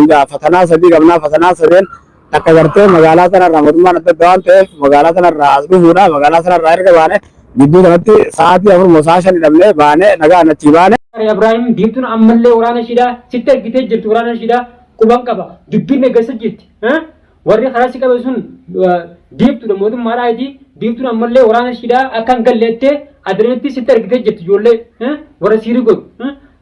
Egaa fatanaa sadii qabnaa fatanaa sadeen takka gartee magaalaa sanarraa mootummaan adda adda waan ta'eef magaalaa sanarraa as dhufuudha magaalaa sanarraa erga baane gidduu kanatti sa'aatii afur moo sa'a shan hidhamnee baane nagaan achii baane. Faariyaa Ibraahim diimtuun ammallee waraana ishiidhaa sitti ergitee jirti waraana ishiidhaa quban qaba dubbiin eeggessa jirti. Warri karaa si qabe sun biiftuudha mootummaadhaa iti biiftuun ammallee waraana ishiidhaa akka hin galle jettee adeematti sitti argitee jirti ijoollee warra siirii godhu.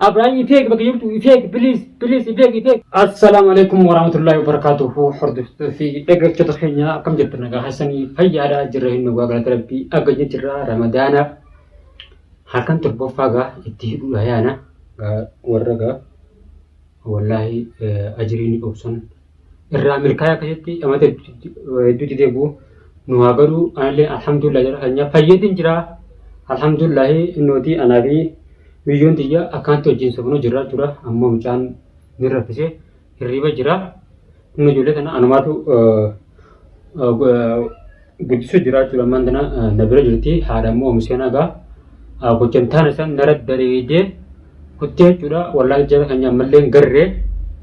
Abiraayim ifeeg bakka jirtu ifeeg biliis biliis ifeeg ifeeg. Assalaamu alaikum warahmatullahi wabarakatuhu hordoftoota fi dhaggeeffattoota keenya akkam jirtu nagaa keessanii fayyaadha jirra hin dhugaa galata rabbii agajni jirra ramadaana halkan torbaffaa gaa itti hidhuudha yaana gaa warra gaa wallaahi ajiriin obsan irraa milkaa'ee akkasitti dhamata hedduu didee bu'u nu haa godhu anallee alhamdulillah jedha keenya fayyadin jira alhamdulillah innooti anaa fi biyyoon tiyya akkanatti wajjin sobnoo jirraa jira ammoo mucaan ni raffise hirriba jira inni ijoollee tana anumaatu Guddisu jiraa jechuudha ammaan tana na bira jirti haadha immoo miseen hagaa gochan taana san nara dareedee kuttee jechuudha wallaahi jara keenya ammallee hin garree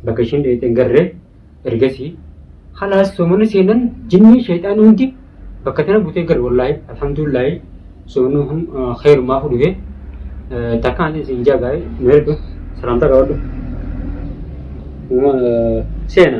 bakka ishiin dheeyxee hin garree ergasii halaas soomana seenan jinnii sheexaan hundi bakka tana butee gar wallaahi alhamdulillahi soomana kun kheyrumaa fudhufee takkaan isin jaagaa'e nu erga salaamtaa qabadhu seena.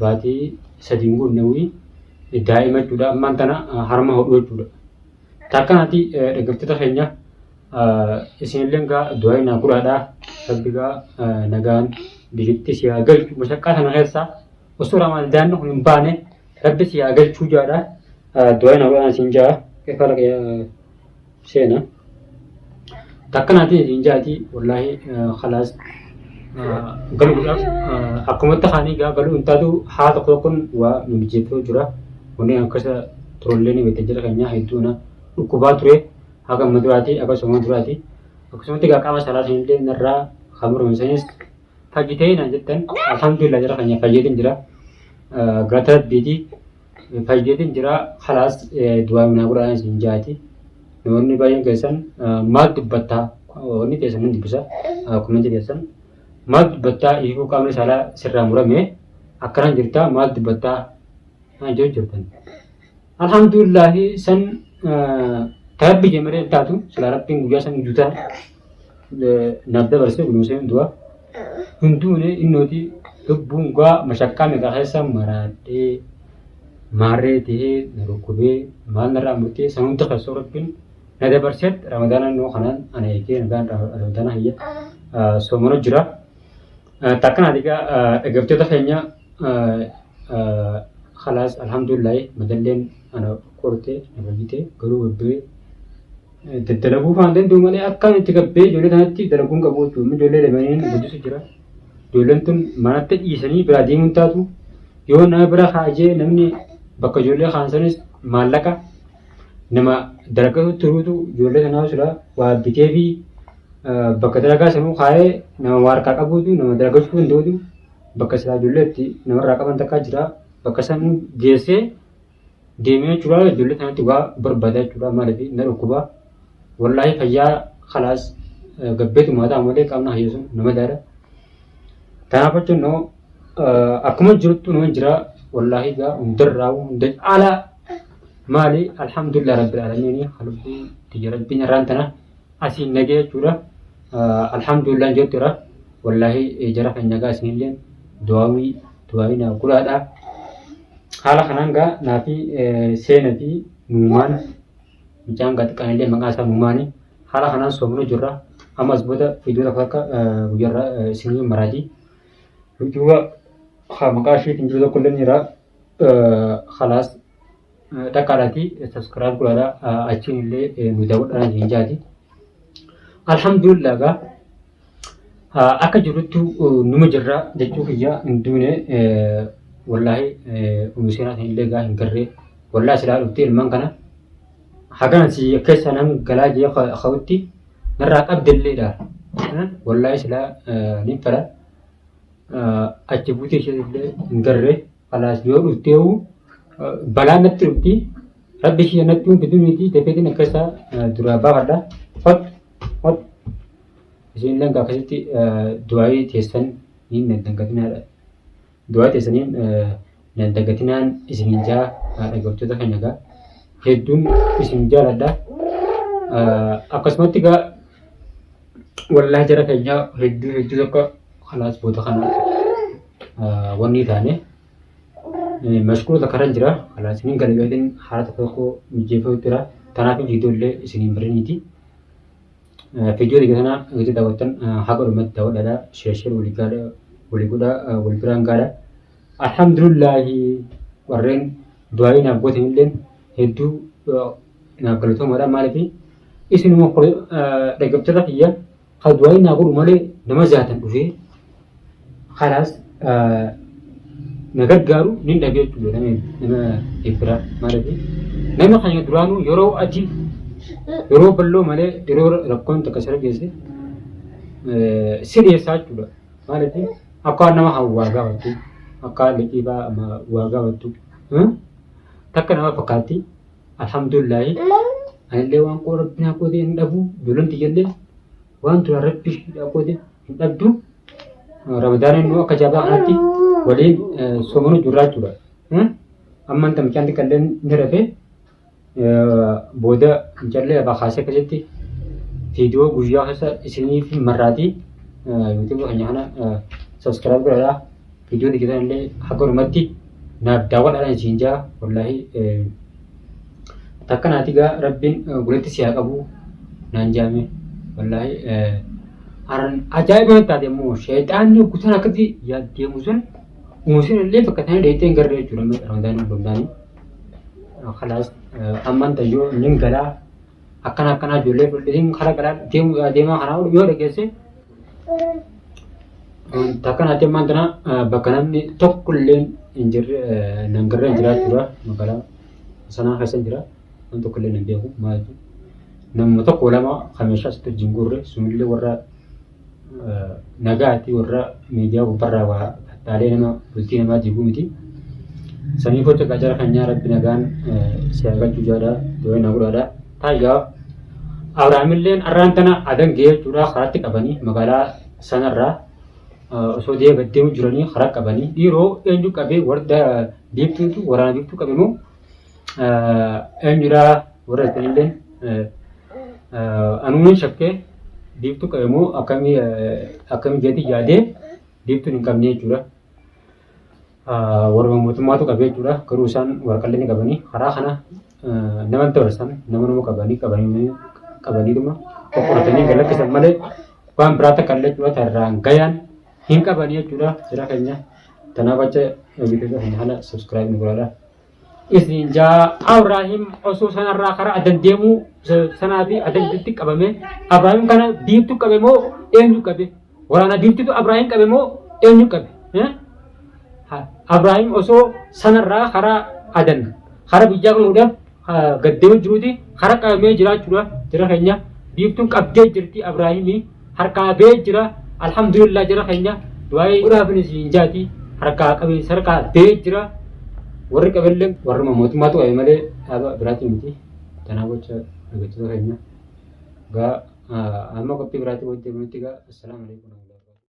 baatii sadiin guunnawii daa'ima jechuudha. Ammaan tana harma hodhuu jechuudha. Taakkanati dhaggeeffattoota keenya isinilleen gaa du'aayi naa godhaadha. Rabbi gaa nagaan biyyitti si haa galchu. Mashaqqaa kana keessaa osoo ramaan daa'imni kun hin baane rabbi si haa galchuu jaadha. Du'aayi naa godhaan siin jaa. Keefaa seena. Takka naatii hin jaati wallaahi khalaas galuudhaaf akkumatti kaanii gaa galuu hin taatu haa tokko tokkoon waa nu mijeeffatu jira. Kunneen akkasa turullee ni beektan jira keenyaa hedduu na dhukkubaa ture haga amma duraati akkasuma duraati. Akkasumatti gaa qaama salaa sanillee narraa kan murame sanis fayyitee naan jettan alhamdulillah jira keenya fayyeetiin jira. Galata rabbiiti fayyeetiin jira halaas du'aa minaa godhaa isin jaati namoonni baay'een keessan maal dubbattaa wanni keessan nan dubbisa komentii keessan maal dubbattaa ifuu qaamni saalaa sirraa murame akkanaan jirtaa maal dubbattaa naan jedhu jirtan alhamdulillahi san tarabbi jemeree taatu silaa rabbiin guyyaa san gujutaa naaf dabarsee kunuunsee du'a hunduunee innooti lubbuun gaa mashakkaa meeqa keessa maraadhee maarree ta'ee na dhukkubee maal narraa murtee san hunda keessoo rabbiin na dabarsee ramadaana innoo kanaan ana eegee nagaan ramadaana hayya soomana jira. Takkan ati gaa dhaggeeffattoota keenya khalaas alhamdulillahi madalleen ana kortee na fayyitee garuu babbee Dalaguu faan danda'u malee akkaan itti gabbee ijoollee tanatti dalaguun qabu jechuudha. Amma ijoollee dabalanii guddisu jira. Ijoolleen tun manatti dhiisanii biraa deemuun taatu yoo nama bira kaajee namni bakka ijoollee kaansanis maallaqa nama dalagatu turuutu ijoollee tanaa sila waa bitee fi bakka dalagaa sanuu kaayee nama waa harkaa qabuutu nama dalagachuu danda'utu bakka silaa ijoollee itti namarraa qaban takkaa jira. Bakka sanuu geessee deemee jechuudha ijoollee kanatti waa barbaada jechuudha maaliif na dhukkuba wallaahi fayyaa kalaas gabbeetu maataa malee qaamna hayyeesu nama daara kanaaf jechuun noo akkuma jirtu nama jira wallaahi gaa hundarraa hunda caalaa maali alhamdulillah rabbil aalamiin halbii tiyya rabbiin irraan tana asiin nagee jechuudha. Alhamdulillah jechuudha. Wallaahi jara kan nagaa isinillee du'aawii du'aawii naaf godhaadha. Haala kanaan gaa naafi seena fi nuumaan mucaan gaa xiqqaanillee maqaa isaa nuumaani haala kanaan soomnu jirra. Ammas booda viidiyoo tokko akka guyyarra isinii maraati. Duuba maqaa isheetiin jiru tokko illee ni jira. Khalaas takka irratti subscribe godhadha achiin illee nu daawwadhaan isin jaati. Alhamdulillah gaa akka jiruttu numa jirra jechuu kiyya hin duune wallaahi umiseenaa isin illee gaa hin garree wallaahi silaa dhuftee ilmaan kana hagana si keessa nan galaa jee ka'utti narraa qabdelleedha wallaahi silaa ni fedha achi buutee ishee illee hin garree. Kalaas yoo dhufteewu balaa natti dhufti. Rabbi ishee natti hin fidu miti dafeetiin akka isaa duraa baafadha. Hot hot isiin illee akkasitti du'aayii teessan hin dandagatinaa. Du'aa teessaniin dandagatinaan isin hin jaa dhaggeeffattoota keenya egaa hedduun isin jaaladha. Akkasumatti egaa wallaahi jara keenyaa hedduu hedduu tokko Kalaas booda kana wanni taane mashquula takka irra jira. Kalaas ni gala yookiin haala tokko tokko mijeeffatu jira. Kanaaf viidiyoo illee isiniin bariniiti. Viidiyoo dhiiga sana gadi daawwattan haga dhumatti daawwadhaadha. Sheersheer walii gaadha walii godha wal biraan gaadha. Alhamdulillaahi warreen du'aayii naaf gootan illee hedduu naaf galatoomaadha maaliif isinuma dhaggeeffattoota kiyya. Ka du'aayi naa godhu malee nama jaatan dhufee kalaas na gargaaru nin dhabe jechuudha nama nama eebbiraa maaliif nama keenya duraanuu yeroo ati yeroo balloo malee yeroo rakkoon takka sirra geesse si dhiyeessaa jechuudha maaliif akka nama kan waa gaafattu akka liqiibaa waa gaafattu takka nama fakkaatti. Alhamdulillahi anillee waan koo rabbi naa qoodee hin dhabu ijoolleen tiyyallee waan duraan rabbi hidhaa qoodee hin dhabdu ramadaana immoo akka jabaa kanatti waliin soomanu jirraa jechuudha. Amma inta mucaan xiqqallee ni rafee booda mucallee abaa kaasee keessatti viidiyoo guyyaa keessa isiniif marraatii yuutuubii keenya kana sabiskiraayib godhadhaa. Vidiyoon hojjetan illee hagarumatti naaf daawwadhaadhaan isiin jaa wallaahi takka naati gaa rabbiin guletti si haa qabu naan jaame wallaahi aran ajaa'iba natti taate immoo sheexaanni guutaan akkatti yaaddeemu sun muusin illee bakka isaanii dheettee hin garre jechuudha amma ramadaan hundumtaanii kalaas amman tayyoo nin galaa akkana akkanaa ijoollee fudhatiin kara galaa deemaa kanaa yoo dhageesse Takka naatti ammaan tana bakka namni tokko illee hin jirre nan garreen jiraachuudha magaalaa sanaa keessa hin jira namni tokko illee hin beeku maal jechuudha. Namni tokko lama kan meeshaa sitti wajjin guurre sunillee warra nagaatti warra miidiyaa gubbarraa waa fattaalee nama bultii namaa diiguu miti. Sanii gocha qacara kan nyaa rabbi nagaan si argachuu jaadhaa dooyina gudhaadhaa. Taayyoo, Abrahaamilleen arraan tana adan ga'ee jechuudha karaatti qabanii magaalaa sanarraa osoo deema deemu jiranii karaa qabanii dhiiroo eenyu qabee warda biiftuutu waraana biiftuu qabe moo eenyudhaa warra isanilleen anuun shakkee biiftuu qabe moo akkamii akkamii jeetii yaadee biiftuun hin qabne jechuudha. warruma mootummaatu qabee jechuudha. Garuu isaan waraqallee ni qabanii karaa kana nama dabarsan nama nama qabanii qabanii qabaniituma qoqqoratanii galakkisan malee waan biraa takka illee jechuudha tarraan gayaan hin qabanii jechuudha jira keenya. Tanaaf acha bitataa hin haala subscribe nu godhaa. Isniin 6 Abraahim osoo sanarraa karaa addan deemuu sanaa fi adda gidduutti qabame. Abraahim kana biiftuu qabe moo eenyu qabe? Waraana biiftuutu Abraahim qabe moo eenyu qabe? Abraahim osoo sanarraa karaa adan karaa biyyaa gahuudhaaf gad deemee jiruuti karaa qabamee jiraachuudhaaf jira keenya biiftuun qabdee jirti Abraahimii. harkaa bee jira alhamdulillah jara keenya du'aa'ii godhaafin isin jaati harkaa qabiinsa harkaa bee jira warri qabellee warri mootummaatu qabe malee dhaaba biraatiin miti tanaa gocha dhaggeeffattoota keenya gaa amma qophii biraatiin wajjin nutti gaa assalaamu alaikum